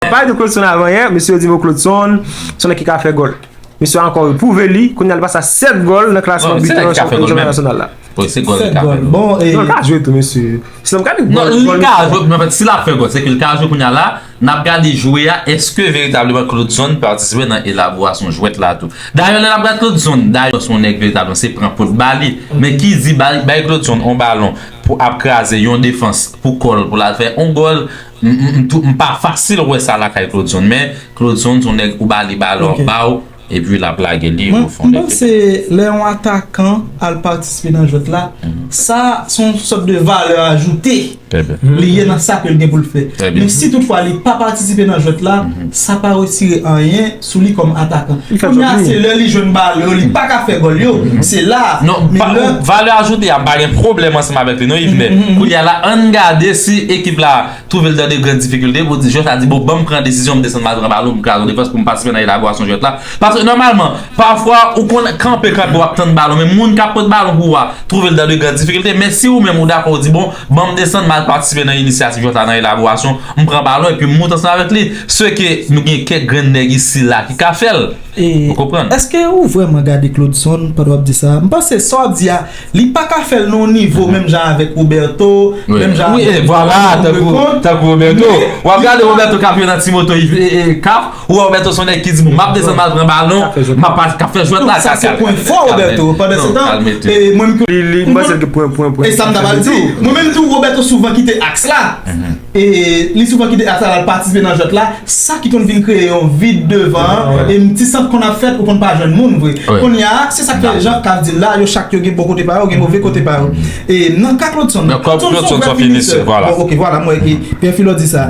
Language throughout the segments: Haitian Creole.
Pale de Claudson avan yè, mesye yo di bon Claudson son nèg ki ka fè gòl. Mesye a ankò repwouve li, kounye a li pase a 7 gòl nan klasman bitè nan chanpyona nasyonal la. Bon, se gòl li ka fè menm. Li ka jwe tou mesye. Si nan gade gòl li. Non, li ka jwe, men si l ap fè gòl, se ke li ka jwe kounye a la, n ap gade jwe a, èske veritableman Claudson patisipe nan elaborasyon jwèt la tou. Dayè lè n ap gade Claudson, dayè son nèg veritableman se pran pot ba li. Men ki di bay Claudson yon balon pou ap kraze yon defans pou kò l pou l al fè yon gòl. M pa fasil wè sa lakay Claude Zone men Claude Zone son nèg ou ba li balon l ba w epi l ap lage li o fon de teren. M panse lè yon atakan al patisipe nan jwèt la sa se yon sòt de valè ajoute li ye nan sa ke l gen pou l fè men si tout fwa li pa patisipe nan jwèt la sa pa retire anyen sou li kòm atakan. Kounye a se lè li jwenn balon yo li pa ka fè gòl yo, se la a. Non, valè ajoute a pa gen pwoblèm ansanm avèk li non Yvenè. Kounye a la ann gade si ekip la twouve l dan de gran difikilte pou di jwè sa di bon ban m pran desizyon m desann m al pran balon m kraze yon defans pou m patisipe nan elaborasyon jwèt la. Paske nòmalman, pafwa ou konn kanpe kanpe w ap tann balon men moun k ap pot balon pou ou a twouve l dan de gran difikilte men si ou menm ou dakò ou di bon Ban m desann, m al patisipe nan inisyativ Jòta nan elaborasyon, m pran balon epi m moute ansanm avèk li. Se ke nou gen kèk grenn nèg isi la ki ka fè l. Ou konprann? Eske ou vrèman gade Claudeson pandan w ap di sa a? M panse sa w ap di a, li pa ka fè l nan yon nivo menm jan avèk Roberto, menm jan avèk Louis Leconte, men. Tankou Roberto. W ap gade Roberto k ap jwe nan ti moto kap. Roberto son nèg ki di bon map desann mal pran balon map al kap fè jwèt la sa se pwen fò Roberto pandan se tan e mwen menm li m panse l gen pwen pwen pwen e sam ta pral di mwen menm tou Roberto souvan kite aks la e li souvan kite aks la lal patisipe nan jwèt la sa ki konn vin kreye yon vid devan an e m ti sant konn ap fèt ou konn pa jwenn moun vre kounya se sak fè jan kap di l la yo chak yo gen bon kote pa yo gen move kote pa yo e nan ka Claudson Claudson son vrè finisè bon ok vwala m wè ke Pierre Philo di sa.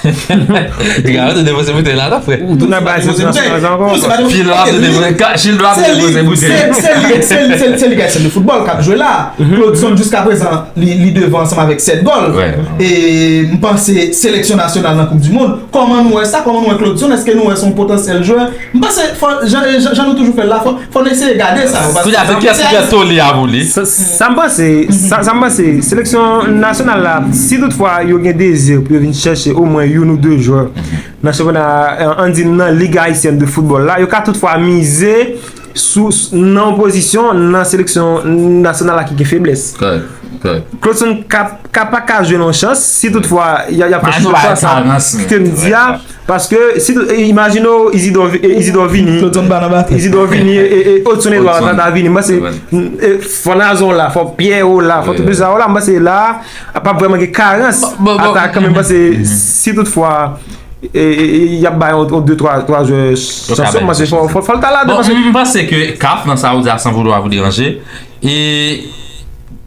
Ti gari te depoze bouteyi la nan frè. Ou tou nan bay zot nan sans ankò. Chil la ap depoze ka, chil la ap depoze bouteyi. Se li, se li, se li, se li kèk chèn de foutbòl kap jwe la. Claudeson jiska prezan li devan ansanm avèk 7 gòl. E m panse seleksyon nasyonal nan koup di mond. Kòman nou wè sa? Kòman nou wè Claudeson? Eske nou wè son potansyèl jwè? M panse fò jan jan nou toujou fè l la fò fò n eseye gade sa yo Kounya se kiyès ki gen toli a pou li? Sa m panse sa m panse seleksyon nasyonal la si tout fwa yo gen dezi pou yo vin chèche omwen youn ou 2 jwè nan chanpyona an di m nan Ligue Haïtienne de Football la yo ka tout fwa mize sou nan yon pozisyon nan seleksyon nasyonal la ki gen feblès Claudson ka paka jwe nan yon chans si tout fwa y ap fè chwa sa ke m di a. Paske si tout, imajine w Izidò, Izidò vini, Izidò vini e Odson Edouard ta ta vini, m panse fò Nazon w la, fò Pyè w la, fò tout sa w la, m panse la a pap vreman gen karans atakan men m panse si tout fwa y ap bay yon 2, 3, 3 jwè chans yo m panse fò l ta la. M panse ke CAF nan sa ou di a san voulwa vou deranje. E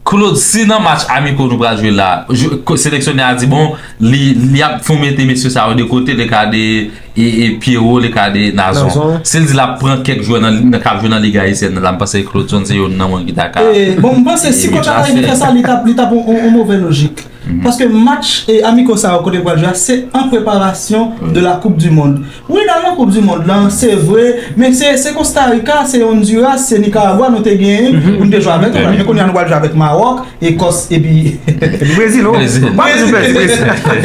Claude si nan match amiko nou pral jwe la seleksyonè a di bon li ap fon mete mesye sa yo de kote le ka de Pierrot le ka de Nazon si l di l ap pran kèk jwè nan kap jwe nan lig ayisyèn nan la m panse Claude son se youn nan moun ki ta ka Bon m panse si kòch la ta rive fè sa li t ap on move lojik paske match amiko sa yo kote yo pral jwe a se an preparasyon de la koup di mond. Wi nan yon koup di mond lan se vre men se kostarika se ondiras se nikaragwa nou te gen pou nou te jwe avèk yo la men kounye a nou pral jwe avèk mawòk ekòs epi brezil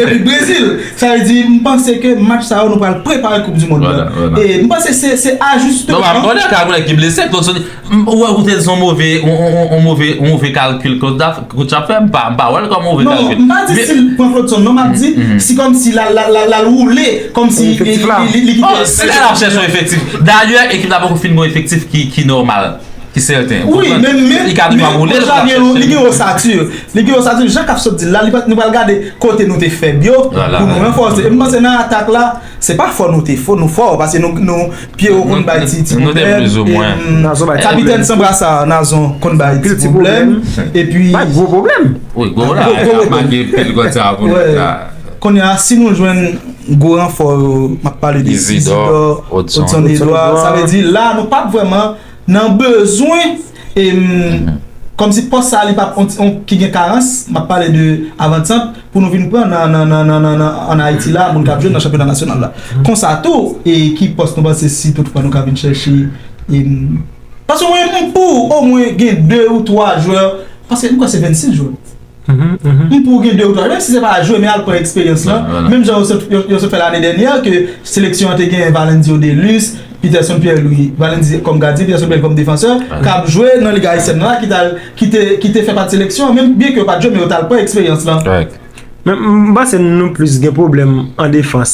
epi brezil sa vle di m panse ke match sa yo nou pral prepare koup di mond lan e m panse se ajisteman. M pa wè kote son move on move on move kalkil coach ap fè m pa wè l kòm move kalkil. Non m pa di si l pran Claudson non m ap di si kòmsi l al woule kòmsi li kite l. Bon si l al ap chèche on efektif dayè ekip la poko fin gen on efektif ki nòmal ki sèten ou konprann. Wi men men coach la gen li gen osatur li gen osatur jan k ap sot di l la nou pral gade kote nou te fèb yo pou nou ranfòse e m panse nan atak la Se pa fò nou te fò, nou fò pase nou nou Pierrot konn bay ti ti problèm e Capitaine Sans Brassard Nazon konn bay ti problèm epi bay gwo problèm wi gwo la yap make pil kòd sa pou nou la Kounye a si nou jwenn gwo ranfò yo map pale de Isidore Odson Edouard sa vle di la nou pap vrèman nan bezwen e kòmsi pòs sa li pa ki gen karans map pale de avant sant pou nou vin pran nan an ayiti la moun kap jwe nan chanpyona nasyonal la konsa tou e ki pòs nou panse si tout fwa nou ka vin chèche e paske mwen pou ou mwen gen 2 ou 3 jwè paske mwen se 26 jwè Pou gen 2 ou 3, menm si se pa jwe men al pran eksperyans lan, menm jan yo sot fè lane dènyè ke seleksyon an te gen Valendio Delus, Peterson Pierre-Louis, Valendio kòm gadyen, Peterson Pierre-Louis kòm defansè, k ap jwe nan Liga Ayisyèn nan la ki te fè pati seleksyon an menm, byenke yo pa t jwe men yo t al pran eksperyans lan. Mwen panse nou plis gen pwoblèm an defans.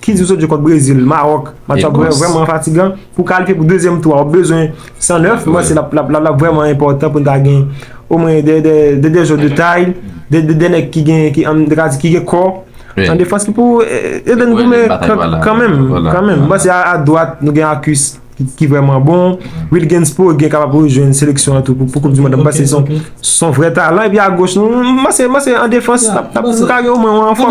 Ki di w sot jwe kont Brezil, Mawòk, match la ap vrèman fatigan. Pou kalifye pou dezyèm tou a, ou bezwen 109, mwen panse l ap vrèman enpòtan pou n ta gen omwen 2 jwè de tay, 2 nèg ki gen kò an defans ki pou ede n goumen kanmenm. Mwen panse a dwat nou gen Akus ki vrèman bon, Wil Genspo gen kapab pou jwenn seleksyon an tou pou koup di mond la. Mwen panse son vrè talan. Epi a goch nou, mwen panse an defans nou ka gen omwen yon anfòm.